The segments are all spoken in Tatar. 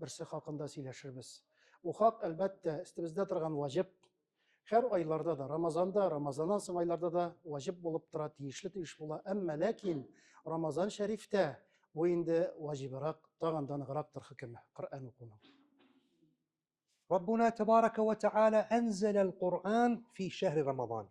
берсе хакында сөйләшербез. Бу хак, әлбәттә, өстебездә торган ваҗиб. Һәр айларда да, Рамазанда, Рамазаннан соң айларда да ваҗиб булып тора, тиешле тиеш була. Әмма ләкин Рамазан шәрифтә бу инде ваҗибрак, тагын да ныграктыр хөкеме Коръән укуның. Раббуна тәбарәкә вә тәгалә анзәләл Коръән фи шәһри Рамазан.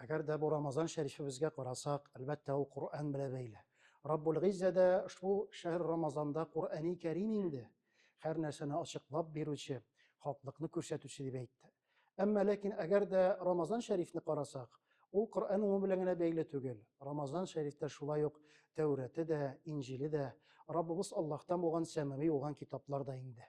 Әгәр дә бу Рамазан шәрифебезгә карасак, әлбәттә, ул Коръән белә бәйле. Раббул Гыйззә дә ошбу шәһр Рамазанда Коръәни Кәрим инде һәр нәрсәне ачыклап бирүче, хаклыкны күрсәтүче дип әйтте. Әмма ләкин әгәр дә Рамазан шәрифне карасак, ул Коръән уңу белән генә бәйле түгел. Рамазан шәрифтә шулай ук Тәүрәте дә, Инҗиле дә, Раббыбыз Аллаһтан булган сәмави булган китаплар да инде.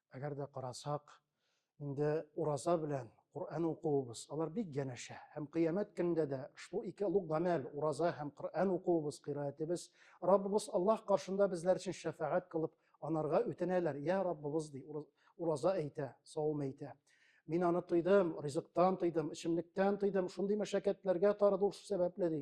Әгәр дә карасак, инде ураза белән Коръән укуыбыз, алар бик янәшә. Һәм кыямәт көнендә дә шул ике олуг гамәл, ураза һәм Коръән укуыбыз, кыйраәтебез, Раббыбыз Аллаһ каршында безләр өчен шәфәгать кылып, анарга үтенәләр. Я Раббыбыз, ди, ураза әйтә, савым әйтә. Мин аны тыйдым, ризыктан тыйдым, эчемлектән тыйдым, шундый мәшәкатьләргә тарыдым шул сәбәпле, ди.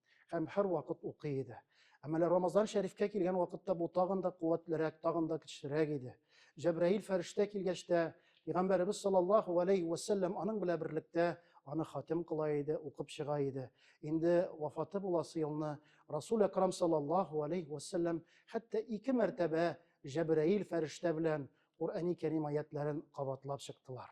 һәм һәрвакыт укый иде. Әмма әле Рамазан шәрифкә килгән вакытта бу тагын да куәтлерәк, тагын да көчлерәк иде. Җәбраил фәрештә килгәч тә, Пәйгамбәребез саллаллаһу алейһи вә сәлләм аның белән берлектә аны хатим кыла иде, укып чыга иде. Инде вафаты буласы елны Расул Әкрам саллаллаһу алейһи вә сәлләм хәтта ике мәртәбә Җәбраил фәрештә белән Куръәни Кәрим аятләрен кабатлап чыктылар.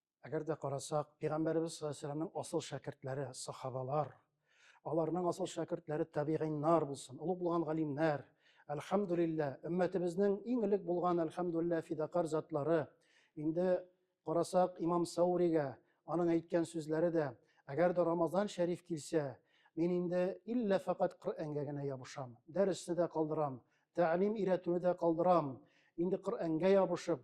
Әгәр дә карасак, Пәйгамбәребез саллаллаһу алейһи ва сәлләмнең асыл шәкертләре, сахабалар, аларның асыл шәкертләре табигыйннар булсын, олуг булган галимнәр, әлхәмдүлилләһ, өммәтебезнең иң элек булган әлхәмдүлилләһ фидакарь затлары. Инде карасак, имам Сауригә аның әйткән сүзләре дә, әгәр дә Рамазан шәриф килсә, мин инде иллә фәкать Коръәнгә генә ябышам, дәресне дә калдырам, тәгълим өйрәтүне дә калдырам, инде Коръәнгә ябышып,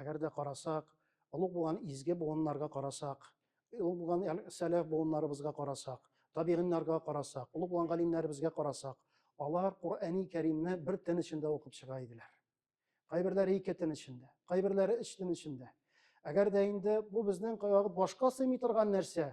Әгәр дә карасак, олуг булган изге буыннарга карасак, олуг булган сәләф буыннарыбызга карасак, табигиннарга карасак, олуг булган галимнәребезгә карасак, алар Коръәни Кәримне бер төн эчендә укып чыга иделәр. Кайберләре ике төн эчендә, кайберләре өч төн эчендә. Әгәр дә инде бу безнең кайвакыт башка сыймый торган нәрсә,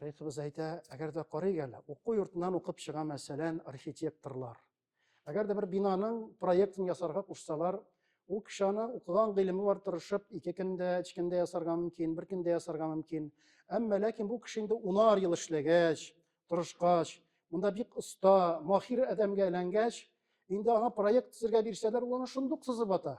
Шәйхебез әйтә, әгәр дә карыйк әле, уку йортыннан укып чыга мәсәлән архитекторлар. Әгәр дә бер бинаның проектын ясарга кушсалар, ул кеше аны укыган гыйлеме бар тырышып, ике көндә, өч көндә ясарга мөмкин, бер көндә ясарга мөмкин. Әмма ләкин бу кеше инде унар ел эшләгәч, тырышкач, монда бик оста, махир адәмгә әйләнгәч, инде аңа проект төзергә бирсәләр, ул аны шундук сызып ата.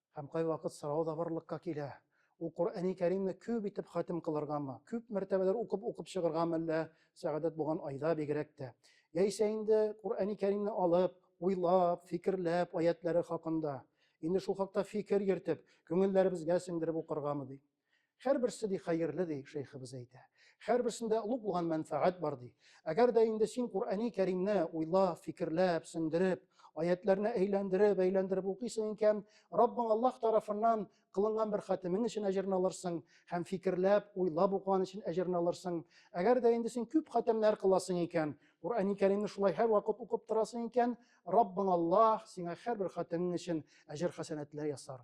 Һәм кайвакыт сорау да барлыкка килә, ул Коръәни Кәримне күп итеп хатим кылыргамы, күп мәртәбәләр укып-укып чыгыргамы әллә Сәгадәт булган айда бигрәк тә? Яисә инде Коръәни Кәримне алып, уйлап, фикерләп, аятьләре хакында, инде шул хакта фикер йөртеп, күңелләребезгә сеңдереп укыргамы? ди. Һәрберсе ди хәерле ди, шәйхебез әйтә. Һәрберсендә олуг булган мәнфәгать бар ди. Әгәр дә инде син Куръани Кәримне уйлап, фикерләп, сеңдереп, аятләрне әйләндереп, әйләндереп укыйсың икән, Раббың Аллаһ тарафыннан кылынган бер хатимең өчен әҗерне алырсың һәм фикерләп, уйлап укыган өчен әҗерне алырсың. Әгәр дә инде син күп хатемнәр кыласың икән, Куръани Кәримне шулай һәрвакыт укып торасың икән, Раббың Аллаһ сиңа һәрбер хатемең өчен әҗер хәсәнәтләр ясар.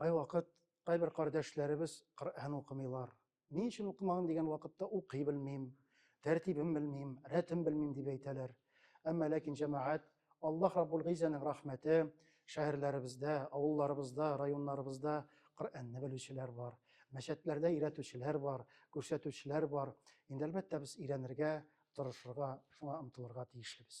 Кайвакыт кайбер кардәшләребез Коръән укымыйлар. Ни өчен укымаган дигән вакытта укый белмим, тәртибен белмим, рәтен белмим дип әйтәләр. Әмма ләкин җәмәгать Аллаһ Раббул Гыйзәнең рәхмәте, шәһәрләребездә, авылларыбызда, районнарыбызда Коръәнне белүчеләр бар. Мәчәтләрдә өйрәтүчеләр бар, күрсәтүчеләр бар. Инде әлбәттә без өйрәнергә, тырышырга, шуңа омтылырга тиешлебез.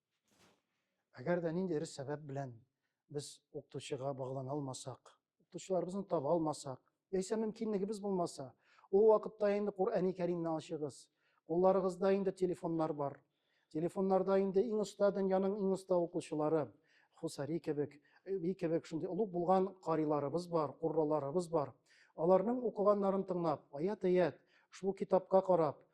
Әгәр дә ниндидер сәбәп белән без укытучыга баглана алмасак, укытучыларыбызны таба алмасак, яисә мөмкинлегебез булмаса, ул вакытта инде Коръәни Кәримне ачыгыз. Кулларыгызда инде телефоннар бар. Телефоннарда инде иң оста дөньяның иң оста укучылары, Хусари кебек, би кебек шундый олуг булган кариларыбыз бар, курраларыбыз бар. Аларның укыганнарын тыңлап, аят-аят, шул китапка карап,